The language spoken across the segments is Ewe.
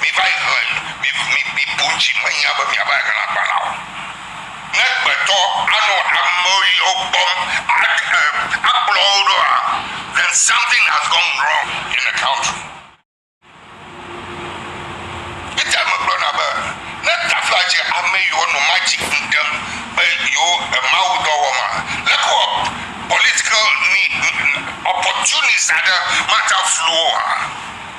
Miva yi hlẽ, mibu dzi menya be miava yi hlẽ agba la o. Ne gbetɔ anɔ ame yiwo kpɔm akplɔ wo ɖoa, then something has gone wrong in the country. Eya megblɔna be, ne tafla dze ame yiwo nɔ magic ŋu ɖem be yewo Mawu dɔ wɔm a, leke wɔ political opportunists aɖe mate ŋu aflu wo oa?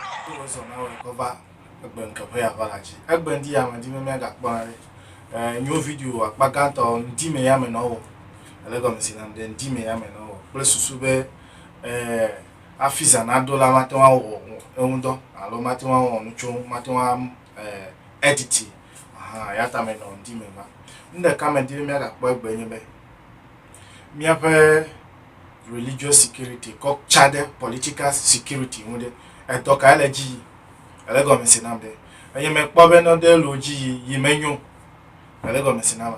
Hafi wòazɔ na wò agbɔ va egbe ŋke ʋɛ ava la dzi. Egbe ŋdi ya me di be mia gakpɔ na ɖe. Eh, nyo video akpa gãtɔ ŋdi me ya me nɔ wɔ. Ele gɔme si nam ɖe ŋdi me ya me nɔ wɔ. Kple susu be, eh, hafi zã na do la mate ŋu awɔ eŋu dɔ alo mate ŋu awɔ nu tso eŋu, mate ŋu a, eh, editi. Ahan, eyata me nɔ ŋdi me va. Nuɖeka me di be mia gakpɔ egbe nye be, Míaƒe religious security kɔ tsa ɖe political security ŋu ɖe, edɔ kae le dzi yi? Ele gɔme se nam ɖe. Eye mekpɔ be nɔ ɖe lo dzi yi yi menyo. Ele gɔme se nam.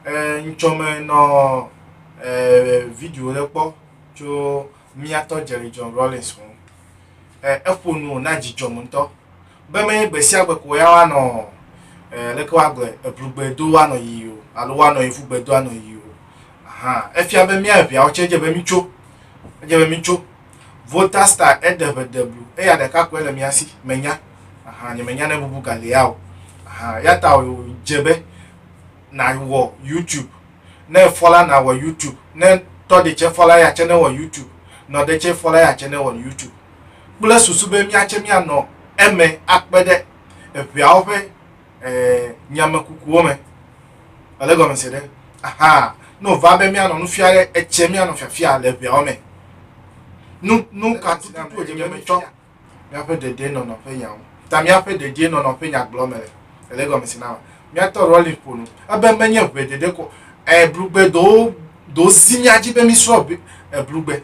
E ŋtsɔ me nɔ e video ɖe kpɔ tso míatɔ Jerry John Rawlings ŋu. E eƒo nu na dzidzɔ me ŋutɔ. be menye gbe sia gbe ko ya woanɔ eh, leke woagblɔe eblugbe do woanɔ yiyi o alo woanɔ yevugbe do anɔ yiyi o ahan efia be mía eveawo tse edze be mitso edze be mitso vota star eɖe ʋe de blu eya ɖeka koe le mía si menya ahan nye menya ne bubu galea o ahan ya ta dze be nawɔ youtube ne efɔ la nawɔ youtube ne tɔ ɖe tse fɔ la ya tse ne wɔ youtube nɔ ɖe tse fɔ la ya tse ne wɔ youtube kple susu be míatse míanɔ eme akpe ɖe eŋeawo ƒe eh, nyamekukuwo me. Ele gɔme se ɖe? Aha, ne wòva be míanɔ nu fia ɖe, etse míanɔ fiafia le eŋeawo me. Nu, nu ka tututu wòdze be míetsɔ míaƒe dedienɔnɔ ƒe nya ŋu. Ta míaƒe dedienɔnɔ ƒe nyagblɔ me le. Ele gɔme se na ma. Míatɔ Rollins ƒo nu. Ebe menye ʋe ɖeɖe ko eh, blugbe do, do zi mía dzi be mísrɔ̃ bi- eh, blugbe.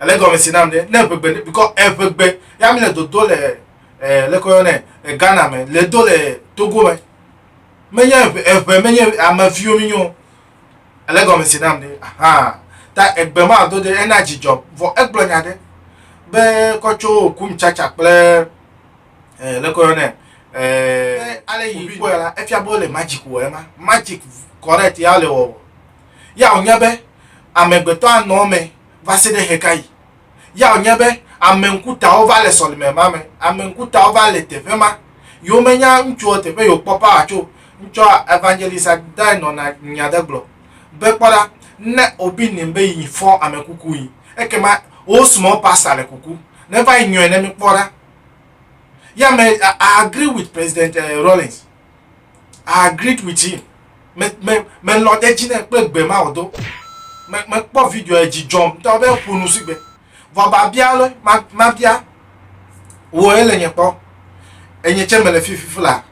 ele gɔme si nam ɖe ne eʋegbe ne bikɔ eʋegbe ya mi le dodo le ɛ eh, leke woyɔ nɛ le ghana me le do le togo me menye eʋe eʋe menye ame viwo mi nyo ele gɔme si nam ɖe ahan ta egbe ma do ɖe ena dzidzɔ vɔ egblɔ nya ɖe be kɔ tso kum tsatsa kple ɛ leke woyɔ nɛ ɛ ale yi kpɔe la efia be wole magic wɔ ema magic correct ya le wɔwɔ Yaw nya be amegbetɔ anɔ eme va se ɖe ɣekaɣi? Yaw nya be ame ŋkutawo va le sɔlime ma me? Ame ŋkutawo va le teƒe ma. Yewo me nya ŋutsuɔ teƒe yewo kpɔ power tso. Ŋtsɔ Evangelist Adai nɔ na nya ɖe gblɔ be kpɔ ɖa, ne wo bi nim be yi fɔ ame kuku yi, ekema wo small pastor le kuku. Ne va yi nyɔɛ ne mi kpɔ ɖa. Ya me, I agree with President Rawlings. I agreed with him. Me me me lɔ ɖe dzi ne kpe gbe ma o do. Me me kpɔ video edzi dzɔm tɔ be ƒo nu si gbe. Vɔ ba bia le ma ma bia wo ele nye kpɔ. Enye tse me le fifi fla.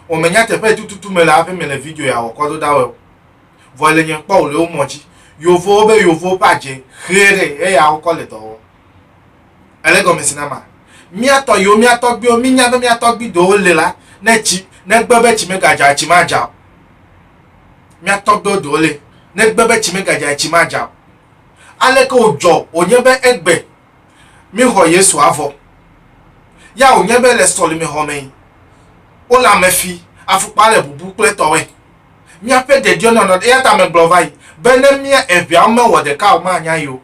O me nya teƒe tututu me le aƒe me le video ya wɔ kɔ do da wo. Vɔ ele nye kpɔ o le wo mɔ dzi. Yovo be yovo pa dze xeɖe eya wo kɔ le dɔ wɔ. Ele gɔme si nama mía tɔ yiwo, mía tɔgbiwo, mí nya be mía tɔgbi dowo le la, ne tsi, ne gbe be tsi megadza, tsi madza o. Mía tɔgbiwo dowo le, ne gbe be tsi megadza, tsi madza o. Aleke wòdzɔ wònye be egbe mí xɔ Yesu avɔ. Ya wònye be le sɔlime xɔ me yi, wo le ame fi, afukpa le bubu kple tɔwɛ. Míaƒe dedienɔnɔ, eyata megblɔ va yi, be ne mía eveawo mewɔ ɖeka o, manya yi o.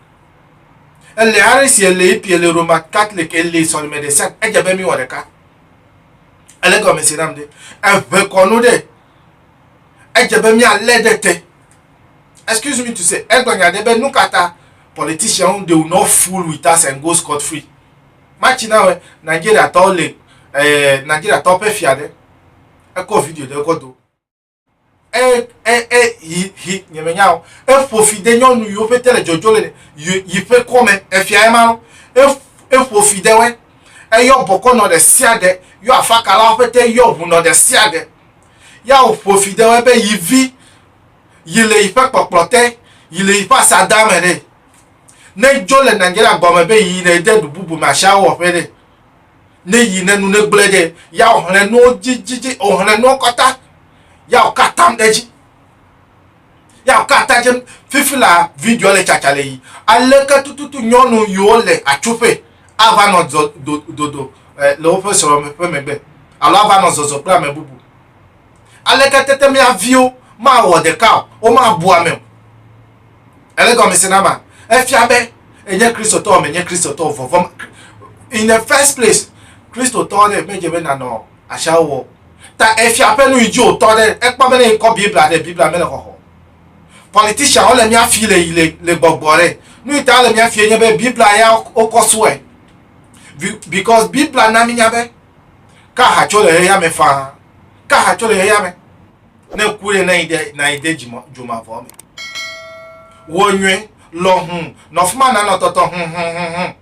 Ele are si ele ipie le Roma Catholic ele sɔlime ɖe sia edze be mi wɔ ɖeka. Ele gɔme si nam ɖe. Eʋe kɔnu ɖe. Edze be mi ale ɖe te. Excuse me to say, egblɔ nya ɖe be nu kata politician they will not fool with us and go scot free. Matsi na we Nigeria tɔwo le eh, Nigeria tɔwo ƒe fia ɖe. Ekɔ video ɖe kɔ do. e e e yi yi nyemenya o eƒo fi de nyɔnu yiwo ƒete le dzɔdzɔ le yi yi ƒe kɔme efia ema lo eƒo fi de wɛ eyɔ bɔkɔ nɔ ɖe sia ɖe yɔ afakalawo ƒete yɔ ʋu nɔ ɖe sia ɖe ya ƒo fi de wɛ be yi vi yi le yi ƒe kpɔkplɔ te yi le yi ƒe asadame ɖe ne dzo le Nigeria gɔme be yi le de ɖu bubu me asiawo wɔ ƒe ɖe ne yi ne nu ne gblẽ ɖe ya o hlẽ nuwo dzidzidzi o hlẽ nuwo kɔta ya o katam ɖe dzi ya o kata dze fifi la video le tsatsa le yi ale ke tututu nyɔnu yiwo le atsuƒe ava nɔ dodo eh, le woƒe srɔ̃ ƒe megbe alo ava nɔ zɔzɔ kple ame bubu ale ke tete mia viwo mawɔ ɖeka o womabu ame o Ele gɔmese na ma. Efia be enye Kristotɔ menye Kristotɔ vɔvɔ. In the first place, Kristotɔ ɖe medze be nanɔ asia wɔ. Ta efia ƒe nu yi dzi wòtɔ ɖe ekpɔ be ne yi kɔ Biblia ɖe Biblia mele xɔxɔ. Politician wole mía fi le yi le le gbɔgbɔ ɖe. Nu yi ta wole mía fi enye be Biblia ya wokɔ sue. Because Biblia na mi nya be ka ha tso le xexea me faa. Ka ha tso le xexea me. ne ku ɖe nayi de nayi de dzima dzomavɔ me wɔ nyuie lɔ hu nɔ fuma na nɔ tɔtɔ hu hu hu hu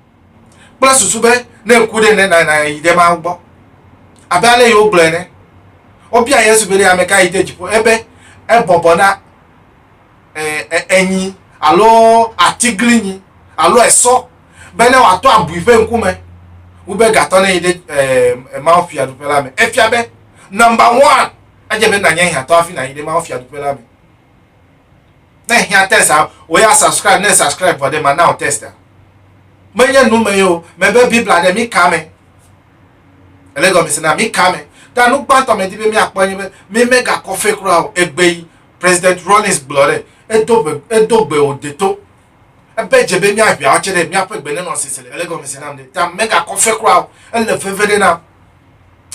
kple susu be ne ku ɖe ne na nayi de ma gbɔ abe ale yewo gblɔe ne wobia yesu be ɖe ame ka yi de dziƒo ebe ebɔbɔ na enyi alo atiglinyi alo esɔ be ne wòatɔ abui ƒe ŋkume wobe gatɔ ne yi ɖe eh, eh, mawufiaɖuƒe la me efia be number one Edze be nànye hiãtɔ hafi nàyi ɖe mawufiaɖuƒe la me. Ne hiã test a, wò ya subscribe ne subscribe vɔ ɖe mana wò test a. Menye nu me o, mebe Biblia ɖe mi ka me. Ele gɔmese na mi ka me. Ta nu gbãtɔ medi be miakpɔ nye be mi megakɔ fe kura o. Egbe yi President Rawlings gblɔ ɖe, edo gbe wò deto. Ebe dze be míaɖui atse ɖe míaƒe gbenɔnɔsese le. Ele gɔmesi nam ɖe ta megakɔ fe kura o. Ele veve ɖe nam.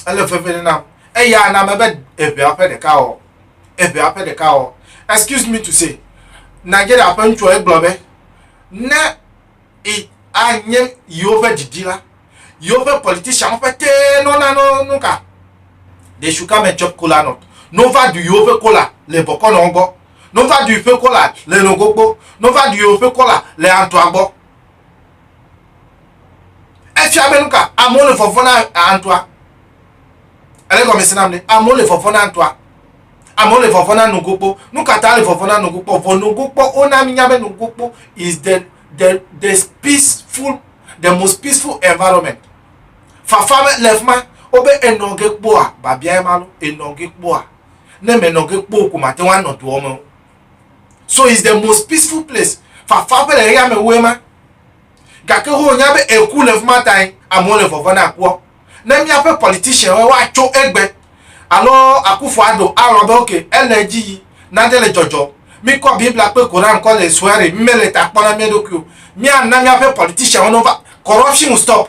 Ele veve ɖe nam. Eya na mebe eʋea ƒe ɖeka ɔ. Eʋea ƒe ɖeka ɔ. Excuse me to say, Nigeria ƒe ŋutsua egblɔ be, ne i anye yewo ƒe didi la, yewo ƒe politicianwo ƒetee nɔna no nuka? They should come and chop kola nut. No va ɖu yewo ƒe kola le bɔkɔnɔwo gbɔ. No va ɖui ƒe kɔla le nogo gbɔ. No va ɖui woƒe kɔla le antoa gbɔ. Efia be nuka amewo le vɔvɔ na antoa. Ele gɔme se nam ne amewo le vɔvɔ na antoa. Amewo le vɔvɔ na nogo gbɔ. Nuka ta le vɔvɔ na nogo gbɔ? Vɔ nogo gbɔ wona mi nya be nogo gbɔ is the the the peaceful the most peaceful environment. Fafa me le fima. Wobe enɔge kpɔa babia ema lo enɔge kpɔa ne menɔ ge kpoo ko mate ŋu anɔ doɔ me o. So is the most peaceful place. Fafa ƒe le yame woe ma. Gake ho nya be eku le fuma tae amewo le vɔvɔ na kua. Ne mia ƒe politician wo wa tso egbe. Alo akufo ado awɔ be ok ele edzi yi nade le jɔjɔ. Mi kɔ bibla kpe koran kɔ le suere mi mele ta kpɔ na mia ɖokui o. Mia na mia ƒe politician wo no va corruption stop.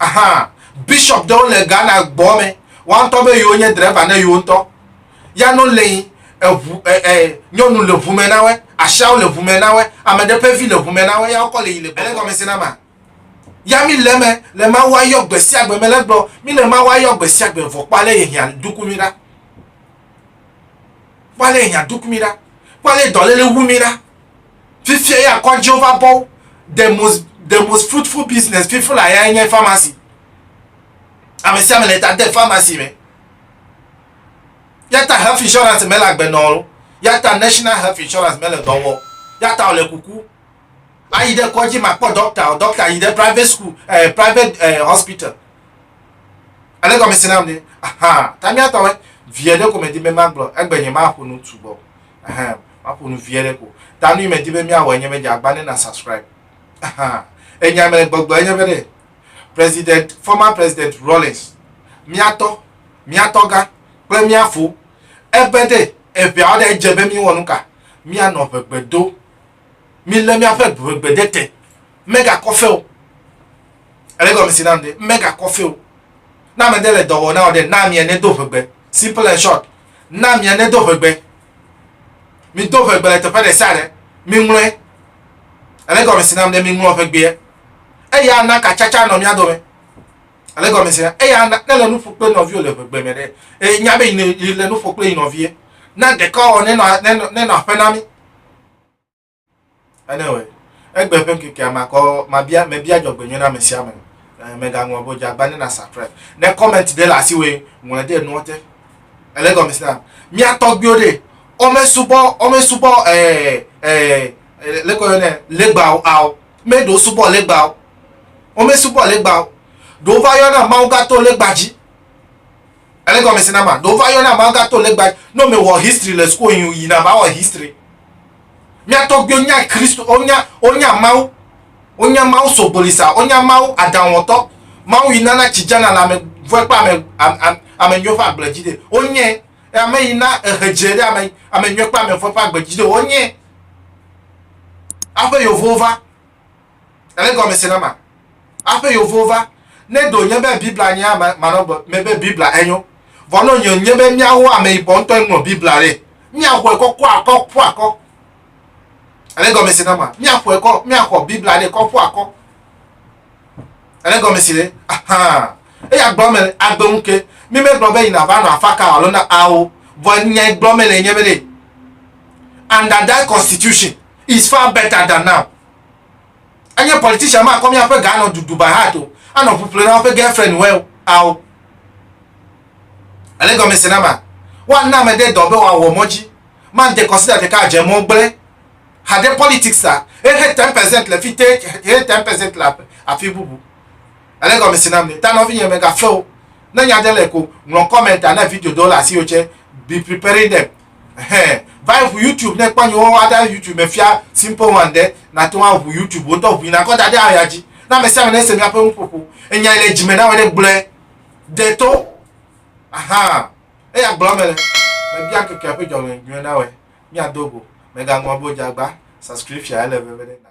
Aha, bishop ɖewo le Ghana gbɔ me. Wantɔ be yewo nye driver ne yewo ŋutɔ. Ya no le yi eʋu e e nyɔnu le ʋu me na we, ashawo le ʋu me na we, ame ɖe ƒe vi le ʋu me na we ya wokɔ le yi le gbɔ. Ele gɔme se na ma. Ya mi le me le Mawu ayɔ gbe sia gbe me le gblɔ mi le Mawu ayɔ gbe sia gbe vɔ kpɔ ale ye hiã duku mi ɖa. Kpɔ ale ye hiã duku mi ɖa. Kpɔ ale ye dɔlele wu mi ɖa. fifia ya kɔ Jehovah bɔ the most the most fruitful business fifo la ya nye pharmacy ame sia ame le ta de pharmacy me yata health insurance mele agbenɔ o yata national health insurance mele dɔ wɔ yata wòle kuku ayi ɖe kɔdzi makpɔ dɔkta o dɔkta yi ɖe private school eh, private eh, hospital ale gɔme si nam ne aha tamiatɔwɛ viɛ ɖe ko medi be magblɔ egbenye maƒo nu tu gbɔ Ahem, maƒo nu vie ɖe ko. Ta nu yi medi be míawɔe nye be dze agba ne na subscribe. Ahem, enya me le gbɔgblɔ enye be ɖe, President, former President Rawlings, mía tɔ, mía tɔgã kple mía fo, ebe ɖe eŋeawo ɖe edze be míwɔ nu ka? Míanɔ ŋegbe do. Mílé míaƒe ŋegbe ɖe te. Megakɔ fe o. Ele gɔmesi nam ɖe, megakɔ fe o. Ne ame ɖe le dɔ wɔ na wò ɖe, na amea nedo ŋegbe. Simple and short, na mia nedo ʋegbe. Mido ʋegbe le teƒe ɖe sia ɖe. Miŋlɔe. Ele gɔme si nam ɖe miŋlɔ ʋegbea. Eya ana katsatsa nɔ mia dome. Ele gɔme si nam. Eya ana ne le nu ƒo kple nɔviwo le ʋegbe me ɖe. E, nya be yi le nu ƒo kple yi nɔvie. Na ɖekawɔwɔ nenɔ, nenɔ, nenɔ aƒe na mi. Enewɔe, egbe ƒe ŋkekea makɔ mabia mebia dzɔgbenyui na ame sia ame. Eh, mègaŋlɔ be wodze agbagba ne na surprise. Ne comment ɖe le asiwòe, ŋlɔe ɖe enuɔ te. Ele egɔme sia. Mía tɔgbuiwo ɖe, womesubɔ womesubɔ eh eh leke woyɔnɛ legbawo ao. Meɖe wosubɔ legbawo. Womesubɔ legbawo. Ɖewo va yɔna Mawu va to legba dzi. Ele gɔmesi na ma. Ɖo va yɔna ma ga to legba. No me wɔ history le school yin yi na va wɔ history. Mia tɔgbiwo nya Christ o nya o nya mawu. O nya mawu sogbolisa o nya mawu adan wɔtɔ. Mawu yi nana ci jana la me vɔe pa me am am ame nyo fa gble ji de. O nye e ame yi na ehe je de ame ame nyo pa me vɔe pa gbe ji de o nye. Aƒe yovo va. Ele gɔme se na ma. Aƒe yovo va. Ne ɖo nye be Biblia nye ame manɔ gbe me be Biblia enyo. Vɔ nɔ nye nye be mía ho ame yibɔ ŋutɔ ŋlɔ Biblia ɖe. Mía xɔe kɔ kpɔ akɔ ƒu akɔ. Ele gɔme se na ma. Mía xɔe kɔ mía xɔ Biblia ɖe kɔ ƒu akɔ. Ele gɔme se ɖe. Ahaa. Eya gblɔ me agbe ŋu ke. Mi me gblɔ be yina va nɔ afa ka alo na awo. Vɔ nya gblɔ me le nye be ɖe. And that constitution is far better than now. Enye politician ma kɔ míaƒe ga anɔ dudu bahat o, anɔ ŋu ƒle na woƒe girlfriend wɛ o, ao. Ele gɔme se na ma. Woana ame ɖe dɔ be wòawɔ mɔ dzi. Man de consider ɖeka adze mɔ gblẽ. Haɖe politics la, ehe ten percent le fite, ehe ten percent le afi bubu. Ele gɔme se na mi. Ta nɔvinye mègafe o. Ne nya ɖe le ko, ŋlɔ comment ne video ɖewo le asiwò tsɛ. Be preparing them. Ɛhɛn, va yi ʋu YouTube ne kpɔ nyewo wa ɖe YouTube me fia Simple One ɖe, nàte ŋu aʋu YouTube wotɔ ʋui nakɔ da ɖe aya dzi. Ne amesiame nese míaƒe nuƒoƒo, enya yi le dzime na wɔ ɖe gblɔe. De to. Ahan. Eya gblɔm mele. Mebia ŋkekea ƒe dzɔleŋuie na wɔe. Míado go. Mègaŋlɔ be wodze agba. Subscription ele veve ɖe na.